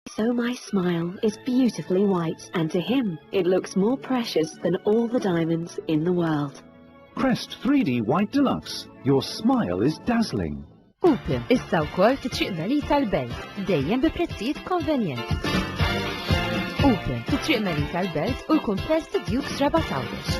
So my smile is beautifully white and to him it looks more precious than all the diamonds in the world. Crest 3D White Deluxe, your smile is dazzling. Upim, issa wkoll fi triq Melita l-Belt, dejjem bi prezzijiet konvenjenti. Upim, fi triq Melita l-Belt u l-kumpless ta' Dukes Rabat Għawdex.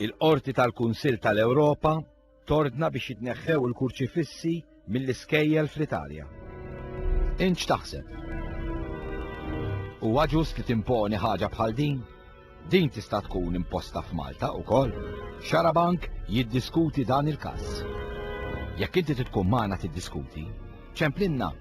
Il-Qorti tal-Kunsill tal-Ewropa tordna biex jitneħħew il-kurċifissi mill-iskejjel fl-Italja. Int x'taħseb? Huwa ġust li timponi ħaġa bħal din? Din tista' tkun imposta f'Malta wkoll. Xarabank jiddiskuti dan il-każ. Jekk inti tkun magħna tiddiskuti, ċemplinna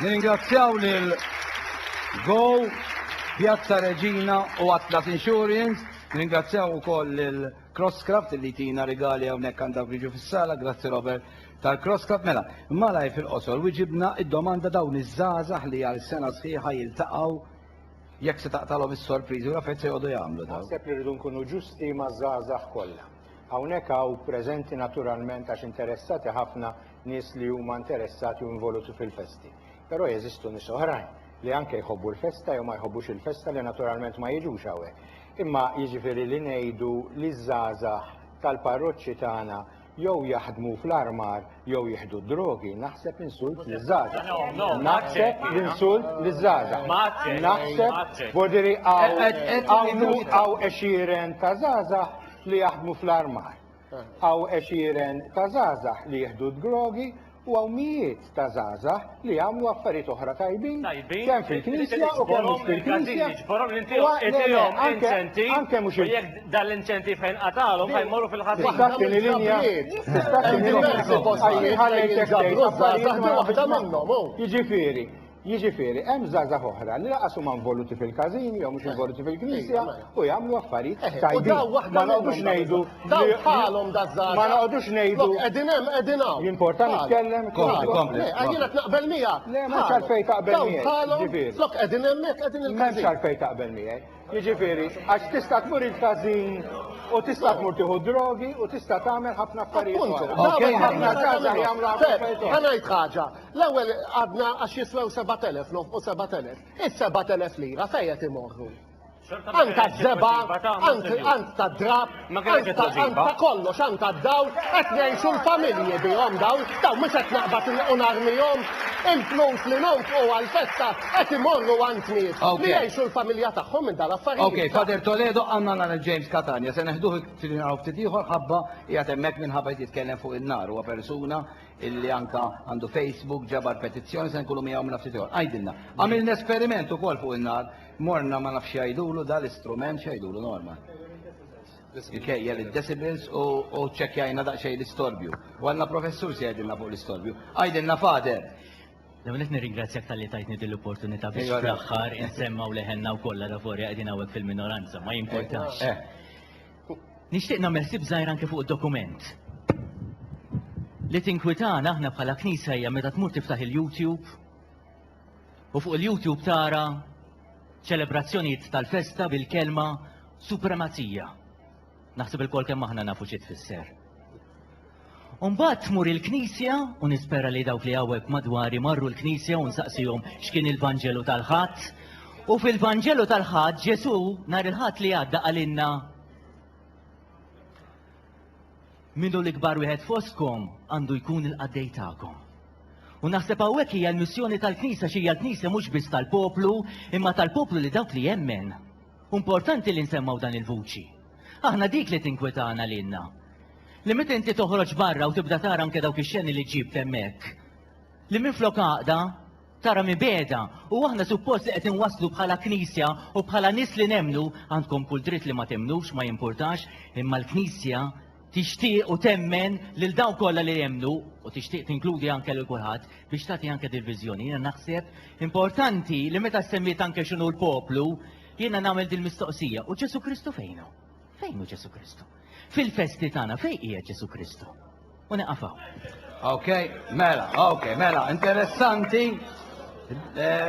Nirringrazzjaw lil Go, Pjazza Reġina u Atlas Insurance, nirringrazzjaw ukoll lil Crosscraft li tina rigali hawnhekk għandha jiġu fis-sala, grazzi Robert tal-Crosscraft. Mela, malaj fil-qosor wiġibna id-domanda dawn iż-żgħażagħ li għal sena sħiħa jiltaqgħu jekk se taqtalhom is-sorpriżi u l-affarijiet se jqogħdu jagħmlu dawn. Naħseb li rridu nkunu ġusti maż-żgħażagħ kollha. Hawnhekk hawn preżenti naturalment għax interessati ħafna nies li huma interessati u involuti fil-festi. Però jeżistu nies oħrajn li anke jħobbu l-festa jew ma jħobbux il-festa li naturalment ma jiġux hawnhekk. Imma jiġifieri li ngħidu li ż-żgħażagħ tal-parroċċi tagħna jew jaħdmu fl-armar jew jieħdu d-drogi naħseb insult liż-żgħażagħ. No, no, Naħseb ma l-insult aċċetti. liż-żgħażagħ. Ma aċċetti, ma Naħseb aċċetti. bodiri Qed- hawn qed- qed hawn minuta. hawn għexieren ta' żgħażagħ li jaħdmu fl-armar. Hawn għexieren ta' żgħażagħ li jieħdu d-drogi u hawn mijiet ta' żgħażagħ li jagħmlu affarijiet oħra tajbin kemm fil-Knisja u kemm mhux fil-Knisja. Anke mhux il- Jekk dan l-inċentiv fejn qatalhom ħa jmorru fil-ħażin. Tista' tieni linja? Tista' tieni linja? Ħallejtek tgħid affarijiet ma waħda minnhom. Jiġifieri, jiġifieri hemm żgħażagħ oħra li laqas huma involuti fil-każini jew mhux involuti fil-Knisja u jagħmlu affarijiet tajbin. Ma noqogħdux ngħidu Dawn bħalhom da żgħażagħ. Ma noqgħodux ngħidu. Qegħdin hemm qegħdin hawn. Jimporta nitkellem. Kompli, kompli. Għajjina tnaqbel miegħek. Le, ma xalfej taqbel miegħek. Dawn bħalhom. Flok qegħdin hemmhekk qegħdin il-każin. Ma xalfej taqbel miegħek. Jiġifieri, għax tista' tmur il-każin u tista' tmur tieħu drogi u tista' tagħmel ħafna affarijiet. Okej, ħafna każa jagħmlu affarijiet. Ħanajt ħaġa. L-ewwel għadna għax jiswew 7000 nofqu 7000. Is-7000 lira fejn qed imorru? Ant għaż-żeba, ant ta' drab, ant ta' kollox, ant ta' dawl, qed ngħixu l-familji bihom daw, daw mhux qed naqbad u narmihom. Il-flus li nonfqu għall-festa qed imorru għand nies li jgħixu l-familja tagħhom minn dal-affarijiet. Okej, Father Toledo għandna nara James Catania, se neħduh ftit naraw ftit ieħor ħabba qiegħed hemmhekk minħabba qed jitkellem fuq in-nar huwa persuna illi anka għandu Facebook ġabar petizzjoni se nkunu miegħu minn ftit ieħor. Għajdilna, għamilna esperiment ukoll fuq in-nar Morna ma nafx jgħidulu da l-istrument x'jgħidulu Norma. Ikejjel id-decibels u ċċekkjajna daqsxejn l-istorbju. U għandna professur se jgħidilna fuq l-istorbju. Għajdilna fader! L-għonet nirringrazzjak tal-li tajtni din l-opportunità biex fl-aħħar insemmgħu leħenna u kollha l-avorja qegħdin hawnhekk fil-minoranza, ma jimportax. Nixtieq nagħmel ħsieb żgħir anke fuq id-dokument. Li tinkwitana aħna bħala Knisja hija meta tmur tiftaħ il-YouTube U fuq il-YouTube tara ċelebrazzjonijiet tal-festa bil-kelma supremazija. Naħseb il-kol kemm aħna nafu xi tfisser. Umbat tmur il-knisja, u nispera li dawk li għawek madwari marru l-knisja u nsaqsijom xkien il-Vangelu tal-ħat. U fil-Vangelu tal-ħat, Ġesu nar il-ħat li għadda għalinna minnu l-ikbar wieħed foskom għandu jkun il-qaddej ta'kom. U naħseb hawnhekk hija l-missjoni tal-Knisja x'hija l-Knisja mhux biss tal-poplu, imma tal-poplu li dawk li jemmen. Importanti li nsemmaw dan il-vuċi. Aħna dik li tinkwetana lilna. Li meta inti toħroġ barra u tibda tara anke dawk ix-xeni li ġibt hemmhekk. Li minflok għaqda tara mibeda u aħna suppost li qed inwasslu bħala Knisja u bħala nies li nemmnu għandkom kull dritt li ma temnux ma jimpurtax imma l-Knisja tixtieq u temmen lil dawk kollha li jemmnu u tixtieq tinkludi anke lil kulħadd biex tagħti anke dil-viżjoni. Jiena naħseb importanti li meta semmiet anke x'inhu l-poplu, jiena nagħmel dil-mistoqsija, u Ġesu Kristu fejnu? Fejnu Ġesu Kristu? Fil-festi tagħna fejn qiegħed Ġesu Kristu? U neqafaw. Ok, mela, ok, mela, interessanti. Eh,